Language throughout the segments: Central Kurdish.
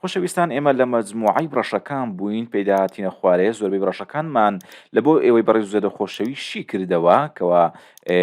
خۆشەویستان ئێمە لە مەجموعەی بڕەشەکان بووین پێیدا هاتینە خوارێ زۆربەی بڕەشەکانمان لە بۆ ئێوەی بەڕێز و زێدە خۆشەوی شی کردەوە کەوا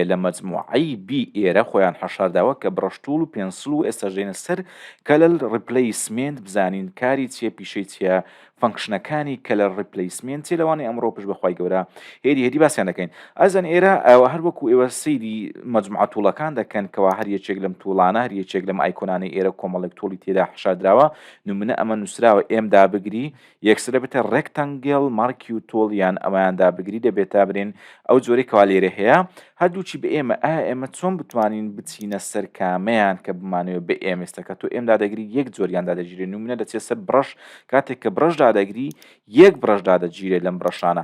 لە مەجموعەی بی ئێرە خۆیان حەشارداوە کە بڕەشتوڵ و پێنسل و ئێستا ژێنە سەر کەلەل ڕیپلەیسمێنت بزانین کاری چیە پیشەی چیە فەنکشنەکانی کەلەر ڕیپلەیسمێنت چی لەوانی ئەمڕۆ پش بەخوای گەورە هێدی هێدی باسیان دەکەین ئەزان ئێرە ئەوە هەر وەکو ئێوە سەیری مەجموعە توڵەکان دەکەن کەوا هەر یەکێک لەم توڵانە هەر یەکێک لەم ئایکۆنانەی ئێرە کۆمەڵێک توڵی تێدا حەشاردراوە نمونە ئەمە نووسراوە ئێم دابگری یەکسرە بێتە ڕێکتەنگێڵ مارکیو تۆڵ یان ئەمەیان دابگری دەبێتە برێن ئەو جۆرەی کەوا لێرە هەیە هەردووچی بە ئێمە ئا ئێمە چۆن بتوانین بچینە سەر کامەیان کە بمانەوە بە ئێمێستەکە تۆ ئێم دادەگری یەک جۆریان دادەگیرێ نمونە دەچێت سەر بڕەش کاتێک کە بڕەش دادەگری یەک بڕەش دادەگیرێت لەم بڕەشانە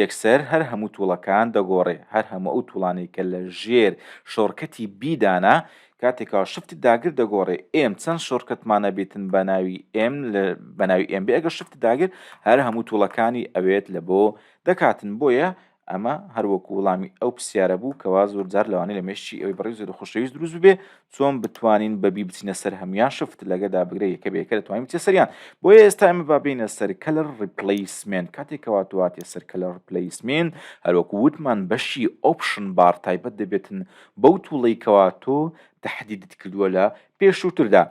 یەکسەر هەر هەموو توڵەکان دەگۆڕێ، هەر هەموو ئەو توڵانەی کە لە ژێر شۆرکەتی بی دانە، کاتێکا شفت داگر دەگۆڕێ، ئێم چەند شۆرکەتمان ئەبیتن بە ناوی ئێم لە بە ناوی ئێم بێ ئەگەر شفت داگر هەر هەموو توڵەکانی ئەوێت لە بۆ دەکاتن بۆیە ئەمە هەر وەکوو وڵامی ئەو پرسیارە بوو کەوا زۆر جار لەوانەیە لە مێشکی ئەوی بەڕێز و خوشەویست دروست ببێ چۆن بتوانین بەبی بچینە سەر هەمویان شفت لەگە دابگرە یەکە بەیەکە دەتوانین بچە سەریان بۆیە ئێستا ئێمە با بینە سەر کەلەر ڕیپلیسمنت کاتێک کەواتواتێ سەر کەلەر ڕپلیسمنت هەروەکو وتمان بەشی ئۆپشن بار تایبەت دەبێتن بەو توڵەی کەوا تۆ تهدیدت کردووە لە پێشووتردا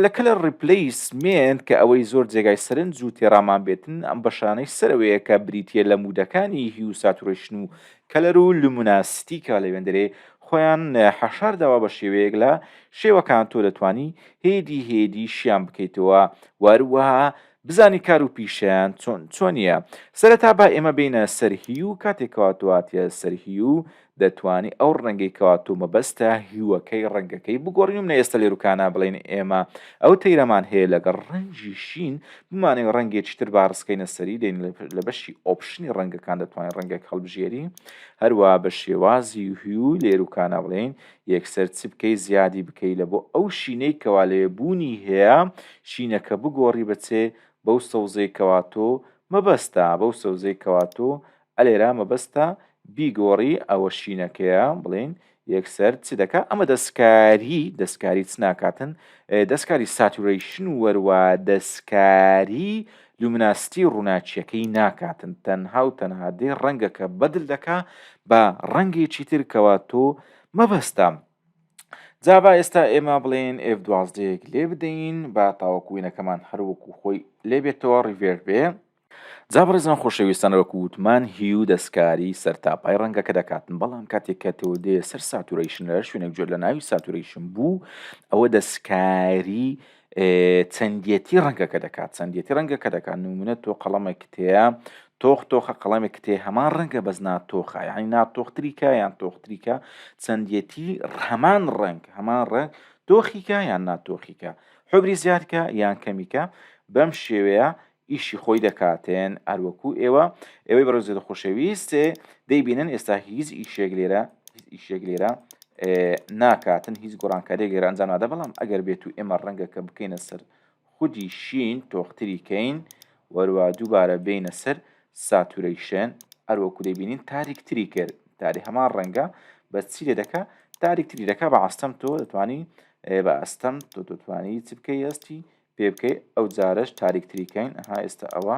لە کەلەر ڕیپلیسمنت کە ئەوەی زۆر جێگای سەرنج و تێڕامان بێتن ئەم بەشانەی سەرەوەیە کە بریتە لە مودەکانی هی و ساتورشن و کەلەر و لومناسیتیکە لەوێندەرێ خۆیان حەشار داوە بە شێوەیەک لە شێوەکان تۆ دەتوانی هێدی هێدی شیان بکەیتەوە وەروەها بزانی کار و پیشەیان چۆن چۆنیە سەرەتا با ئێمە بینە سەر هیو کاتێک کەوا تۆ هاتیە سەر هیو دەتوانی ئەو ڕەنگەی کەوا تۆ مەبەستە هیوەکەی ڕەنگەکەی بگۆڕی و منە ئێستا لێروکانە بڵێن ئێمە ئەو تەیرەمان هەیە لەگەڵ ڕەنجی شین بمانەوێت ڕەنگێکی تر با ڕسکەینە سەری دێن لە بەشی ئۆپشنی ڕەنگەکان دەتوانین ڕەنگێک هەڵبژێری هەروە بە شێوازی هیو لێر و کانە بڵێین یەکسەر چ بکەی زیادی بکەی لە بۆ ئەو شینەی کەوا لەوێ بوونی هەیە شینەکە بگۆڕی بەچێ بەو سەوزەی کەواتۆ مەبەستە بەو سەوزەی کەواتۆ ئە لێرە مەبەستە بیگۆڕی ئەوە شینەکەیە بڵێین یەکسەر چ دەکا ئەمە دەستکاری دەستکاری چ ناکاتن دەستکاری ساتورەیشن و وەروا دەستکاری لومناستی ڕووناچیەکەی ناکاتن تەنها و تەنها دێ ڕەنگەکە بەدل دەکا بە ڕەنگێکی تر کەوا تۆ مەبەستە جابا ئێستا ئێمە بڵێن ئێف دوازدەیەک لێ بدەین با تاوەکوینەکەمان هەروەکو خۆی لێبێتەوە ڕیڤێر بێ جا بەڕێزان خۆشەویستان وەکو وتمان هیو دەستکاری سەرتاپای ڕەنگەکە دەکاتن بەڵام کاتێک کە تۆ دێ سەر ساتورەیشن لە شوێنێک جۆر لە ناوی ساتورەیشن بوو ئەوە دەستکاری چەندیەتی ڕەنگەکە دەکات چەندیەتی ڕەنگەکە دەکات نمونە تۆ قەڵەمە کتەیە تۆخ تۆخە قەڵەمێک کتێ هەمان ڕەنگە بەس ناتۆخە یعنی ناتۆختریکە یان تۆختریکە چەندیەتی هەمان ڕەنگ هەمان ڕەنگ تۆخیکە یان ناتۆخیکە حبری زیادکە یان کەمیکە بەم شێوەیە ئیشی خۆی دەکاتێن هەروەکو ئێوە ئێوەی بەڕێزێت خۆشەویست دەی بینن ئێستا هیچ ئیشێک لێرە ئیشێک لێرە ناکاتن هیچ گۆڕانکاری گەر ئەنجام نادە بەڵام ئەگەر بێت و ئێمە ڕەنگە کە بکەینە سەر خودی شین تۆختری کەین وەروە دووبارە بینە سەر ساتورەیشن ئەروەکو دەبینین تاریکتری کرد تاری هەمان ڕەنگە بە چی لێ دەکە تاریکتری دەکە بە ئاستەم تۆ دەتوانی بە ئەستەم تۆ دەتوانی چ بکەی ئەستی پێ بکەی ئەو جارەش تاریک تری کەین ها ئێستا ئەوە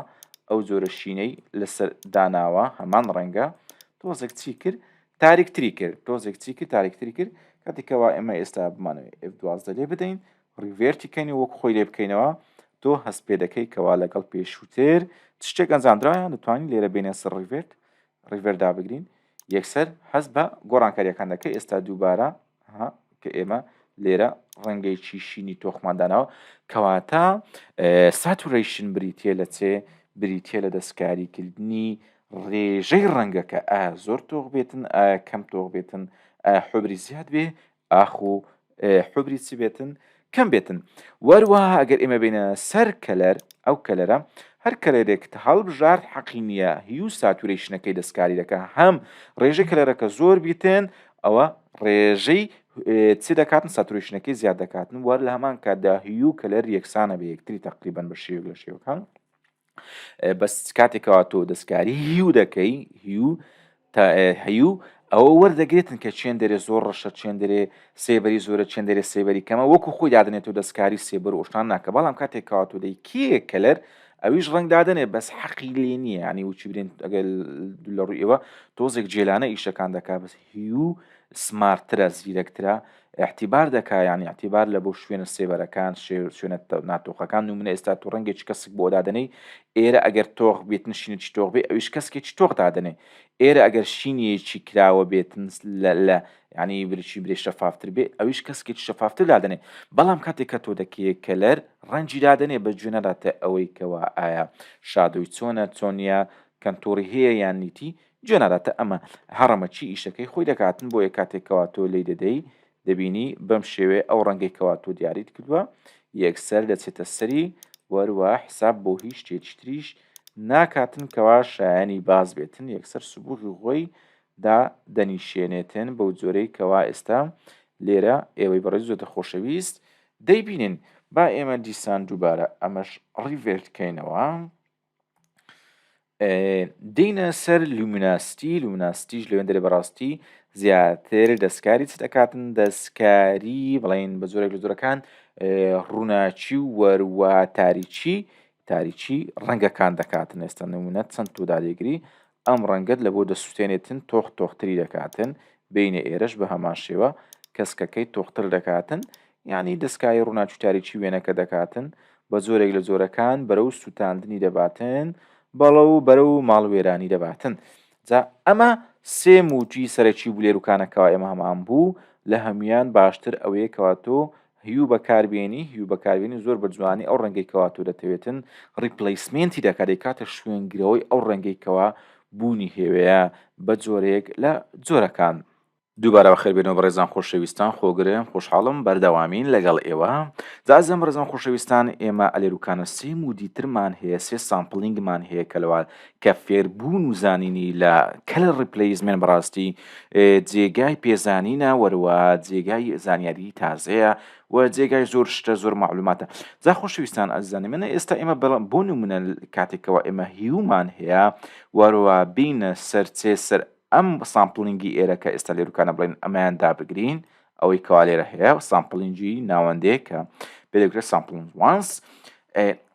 ئەو جۆرە شینەی لەسەر داناوە هەمان ڕەنگە تۆزێک چی کرد تاریک تری کرد تۆزێک چی کرد تاریک تری کرد کاتی کەوا ئێمە ئێستا بمانەوەی ئف دوازدە لێ بدەین ڕیڤێرتی کەین وەک خۆی لێ بکەینەوە تۆ هەست پێ دەکەی کەوا لەگەڵ پێشووتر شتێک ئەنجامدرایان دەتوانین لێرە بینە سەر ڕیڤێرت ڕیڤەر دابگرین یەکسەر هەست بە گۆڕانکاریەکان دەکە ئێستا دووبارە کە ئێمە لێرە ڕەنگەی چیشینی تۆخماندانەوە کەواتە ساتورەیشن بریتە لە چێ بریتە لە دەستکاریکردنی ڕێژەی ڕەنگەکە ئا زۆر تۆخ بێتن ئا کەم تۆخ بێتن حبری زیاد بێ ئاخ و ئێ حبری چ بێتن کەم بێتن وەروەها ئەگەر ئێمە بینە سەر کەلەر ئەو کەلەرە هەر کەلەرێکت هەڵبژارد حەقی نییە هیو ساتورەیشنەکەی دەستکاری دەکە هەم ڕێژەی کەلەرەکە زۆر بیتێن ئەوە ڕێژەی چ دەکاتن ساتورەیشنەکەی زیاد دەکاتن وەر لە هەمان کاتدا هیو کەلەر یەکسانە بە یەکتری تقریبان بە شێوک لە شێوەکان بەس کاتێک کەوا تۆ دەستکاری هیو دەکەی هیو تا هەیو ئەوە وەردەگرێتن کە چێن دەرێ زۆر ڕەشە چێن دەرێ سێبەری زۆرە چێن دەرێ سێبەری کەمە وەکو خۆی دادنێت و دەستکاری سێبەر ئۆشتان ناکە بەڵام کاتێک کاتو دەی کێ کەلەر ئەویش ڕنگدادنێ بەس حەقی لێ نییە ینی وچی برێن ئەگەر لە ڕووی ئێوە تۆزێک جێلانە ئیشەکان دەکا بەس هیو سمارترە زیرەکترە ئیعتیبار دەکا یانی ئیعتیبار لە بۆ شوێنە سێبەرەکان شێ شوێنە تە ناتۆقەکان نومونە ئێستا تۆ ڕەنگێکی کەسک بۆ دادەنێی ئێرە ئەگەر تۆغ بێت نشینێکی تۆغ بێ ئەویش کەسکێکی تۆغ دادەنێ ئێرە ئەگەر شینێکی کراوە بێت لە لە یانی برچی برێ شەفافتر بێ ئەویش کەسکێکی شەفافتر دادەنێ بەڵام کاتێک کە تۆ دەکەیە کەلەر ڕەنجی دادەنێ بە جوێنە داتە ئەوەی کەوا ئایا شادۆی چۆنە چۆنە کەنتۆڕی هەیە یان نیتی جێ ناداتە ئەمە هەڕەمە چی ئیشەکەی خۆی دەکاتن بۆیە کاتێک کەوا تۆ لێی دەدەی دەبینی بەم شێوێ ئەو ڕەنگەی کەوا تۆ دیاریت کردووە یەکسەر دەچێتە سەری وەروە حساب بۆ هیچ شتێکی تریش ناکاتن کەوا شایانی باز بێتن یەکسەر سبوغی غۆی دا دەنیشێنێتن بەو جۆرەی کەوا ئێستا لێرە ئێوەی بەڕێز زۆتە خۆشەویست دەیبینین با ئێمە دیسان دووبارە ئەمەش ڕیڤێرت کەینەوە دێینە سەر لومیناستی لومیناستیش لەوێن دەێ بەڕاستی زیاتر دەستکاری چ دەکاتن دەستکاری بڵین بە زۆرێک لە زۆرەکان ڕووناچی و وەروە تاریچی تاریچی ڕەنگەکان دەکاتن ئێستا نمونە چەند تودا دەگری ئەم ڕەنگەت لە بۆ دەسوتێنێتن تۆخ تۆختری دەکاتن، بێینە ئێرەش بە هەمان شێوە کەسکەکەی تۆختر دەکاتن، یانی دەسکایی ڕووناکی تاریکی وێنەکە دەکاتن، بە جۆرێک لە جۆرەکان بەرەو سوتاندنی دەباتن، بەڵو بەرەو ماڵوێرانی دەباتن. جا ئەمە سێ مووچی سەرەکی بوو لێروکانە کەوا ئێمە هەمان بوو، لە هەموویان باشتر ئەوەیە کەوا تۆ هیو بەکاربێنی هیو بەکاربێنی زۆر بە جوانی ئەو ڕەنگەی کەوا تۆ دەتەوێتن ڕیپلەیسمێنتی دەکات دەیکاتە شوێنگرەوەی ئەو ڕەنگەی کەوا بوونی هێوەیە بە جۆرەیەک لە جۆرەکان. دووبارە بەخێربێنەوە بەڕێزان خۆشەویستان خۆگرێم خۆشحاڵم بەردەوامین لەگەڵ ئێوە جازم بەڕێزان خۆشەویستان ئێمە ئەلێروکانە سێ مودی ترمان هەیە سێ سامپڵینگمان هەیە کە لەوە کە فێربوون و زانینی لە کەلە ڕیپلەیزمێن بەڕاستی جێگای پێزانینە وەروە جێگای زانیاری تازەیە و جێگای زۆر شتە زۆر معلوماتە جا خۆشویستان ئەزانی منە ئێستا ئێمە بەڵام بۆ نمونە کاتێکەوە ئێمە هیومان هەیە وەروە بینە سەرچێ سەر ئەم سامپلنگی ئێرە کە ئێستا لێروکانە بڵێن ئەمەیان دابگرین ئەوەی کەوا لێرە هەیە سامپلینجی ناوەندەیە کە پێدەکرێت سامپلنج وانس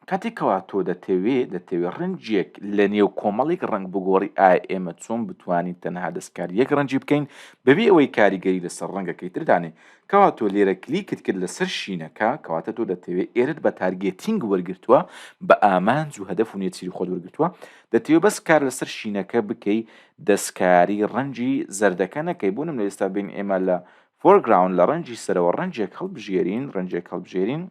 کاتێکەوە تۆ دەتەوێ دەتەوێت ڕنجێک لە نێو کۆمەڵێک ڕنگ بگۆڕی ئایا ئێمە چۆن بتوانین تەنها دەستکار یەک ڕنجی بکەین بەبێ ئەوەی کاریگەری لەسەر ڕەنگەکەی تردانێ کەوا تۆ لێرە کلیکت کرد لەسەر شینەکە کەواتە تۆ دەتەوێت ئێرت بە تارگێتینگ وەرگتووە بە ئامانج و هەدەف و نێچیری خۆت وەرگتووە دەتەوێت بەس کار لەسەر شینەکە بکەی دەستکاری ڕەنجی زەردەکە نەکەی بۆ نمونە ئێستا بین ئێمە لە فۆرگراون لە ڕەنجی سەرەوە ڕەنجێک هەڵبژێرین ڕەنجێک هەڵبژێرین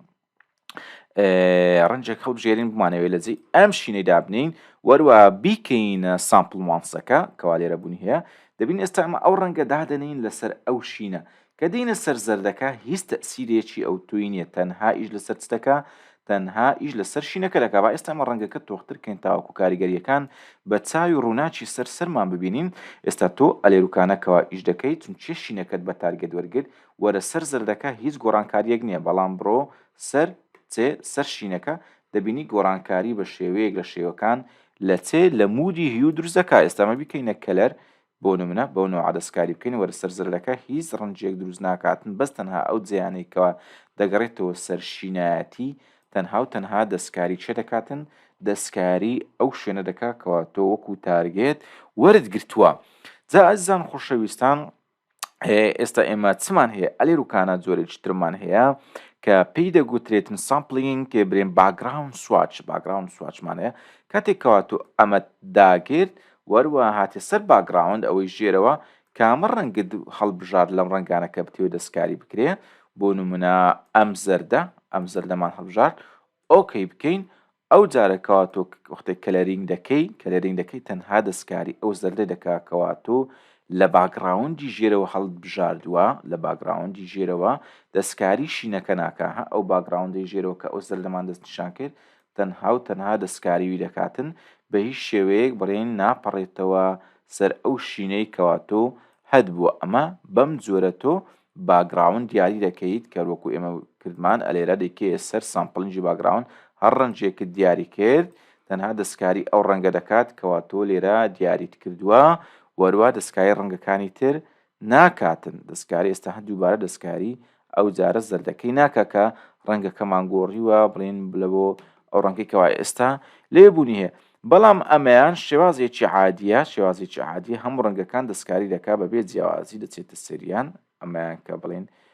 ڕەنجێک هەڵبژێرین بمانەوێت لە جێ ئەم شینەی دابنین وەروە بیکەینە سامپل وانسەکە کەوا لێرە بوونی هەیە دەبین ئێستا ئەمە ئەو ڕەنگە دادەنین لەسەر ئەو شینە کە دێینە سەر زەردەکە هیچ تەئسیرێکی ئەوتۆی نیە تەنها ئیش لەسەر چ دەکا تەنها ئیش لەسەر شینەکە دەکا با ئێستا ئەمە ڕەنگەکە تۆختر کەین تاوەکو کاریگەریەکان بە چاوی ڕوناکی سەر سەرمان ببینین ئێستا تۆ ئەلێروکانە کەوا ئیش دەکەی چونچیە شینەکەت بە تارگێت وەرگرت وەرە سەر زەردەکە هیچ گۆڕانکاریەک نیە بەڵام بڕۆ سەر چێ سەر شینەکە دەبینی گۆڕانکاری بە شێوەیەک لە شێوەکان لە چێ لە مودی هیو دروست دەکا ئێستا ئەمە بیکەینە کەلەر بۆ نمونە بەو نەوعە دەستکاری بکەین وەرە سەر زرلەکە هیچ رەنجیەک دروست ناکاتن بەس تەنها ئەو جێیانەی کەوا دەگەڕێتەوە سەر شینایەتی تەنهاو تەنها دەستکاری چێ دەکاتن دەستکاری ئەو شوێنە دەکا کەوا تۆ وەکو تارگێت وەرت گرتوە جا ئەزیزان خۆشەویستان ئێستا ئێمە چمان هەیە ئەلی روکانە جۆرێکی ترمان هەیە کە پێی دەگوترێتن سامپلینگ کێ برێن باگراون سواچ باگراون سواچمانەیە کاتێکەوە تۆ ئەمە داگرت وەروا هاتە سەر باکگراوند ئەوەی ژێرەوە کامە ڕەنگت هەڵبژارد لەم ڕەنگانە کە بتەوێت دەستکاری بکرێ بۆ نمونە ئەم زەردە ئەم زەردەمان هەڵبژارد ئۆکەی بکەین ئەو جارە کەواتۆ وەختێک کەلەرینگ دەکەی کەلەرینگ دەکەی تەنها دەستکاری ئەو زەردە دەکا کەواتۆ لە باکگراوندی ژێرەوە هەڵبژاردووە لە باکگراوندی ژێرەوە دەستکاری شینەکە ناکە ها ئەو باکگراوندی ژێرەوە کە ئەو زەردەمان دەستنیشان کرد تەنها و تەنها دەستکاریی دەکاتن، بە هیچ شێوەیەک بڕین ناپەڕێتەوە سەر ئەو شینەی کەوا تۆ هەت بووە ئەمە بەم جۆرە تۆ باگڕاوند دیاری دەکەیت کەر وەکو ئێمە کردمان ئەلێرە دەیکەیە سەر سامپلنگی باگڕاوند هەر ڕەنگێکت دیاری کرد تەنها دەستکاری ئەو ڕەنگە دەکات کەوا تۆ لێرە دیاریت کردووە وەروا دەستکاری ڕەنگەکانی تر ناکاتن دەستکاری ئێستا هە دووبارە دەستکاری ئەو جارە زەردەکەی ناکە کە ڕەنگەکەمان گۆڕیوە بڵین لە بۆ ئەو ڕەنگی کەوا ئێستا لێ بوونی هەیە بەڵام ئەمەیان شێوازێکی عادیە شێوازێکی عادی هەموو ڕەنگەکان دەستکاری دەکا بەبێ جیاوازی دەچێتە سەریان ئەمەیان کە بڵین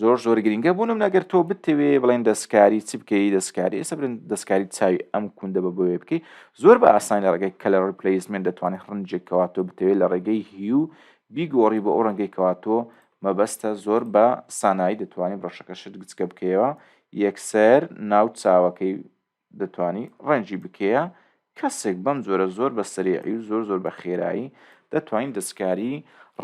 زۆر زۆر گرنگە بۆ نمونە گەر تۆ بتەوێ بڵێن دەستکاری چ بکەی دەستکاری ئێستا برن دەستکاری چاوی ئەم کوندە بە بۆیە بکەی زۆر بە ئاسانی لە ڕێگەی کەلە ڕپلیسمنت دەتوانێت ڕنجێک کەوا تۆ بتەوێت لە ڕێگەی هیو بیگۆڕی بە ئەو ڕەنگەی کەوا تۆ مەبەستە زۆر بە سانایی دەتوانانی بڕەشەکەشت گچکە بکەیەوە یەکسەر ناو چاوەکەی دەتوانی ڕەنجی بکێە کەسێک بەم جۆرە زۆر بە سەریعی و زۆر زۆر بە خێرایی دەتوانین دەستکاری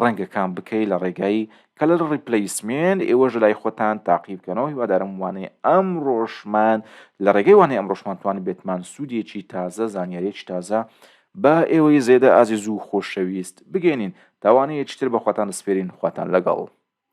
ڕەنگەکان بکەی لە ڕێگای کەلەر ڕیپلیسمێن ئێوەش لای خۆتان تاقی بکەنەوە هیوادارم وانەی ئەم ڕۆژمان لە ڕێگەی وانەی ئەم ڕۆژمانتوانی بێتمان سوودێکی تازە زانیارێکی تازە بە ئێوەی زێدە ئازیز و خۆشەویست بگەێنین تاوانەیەکتر بە خۆتان دەسپێرین خۆتان لەگەڵ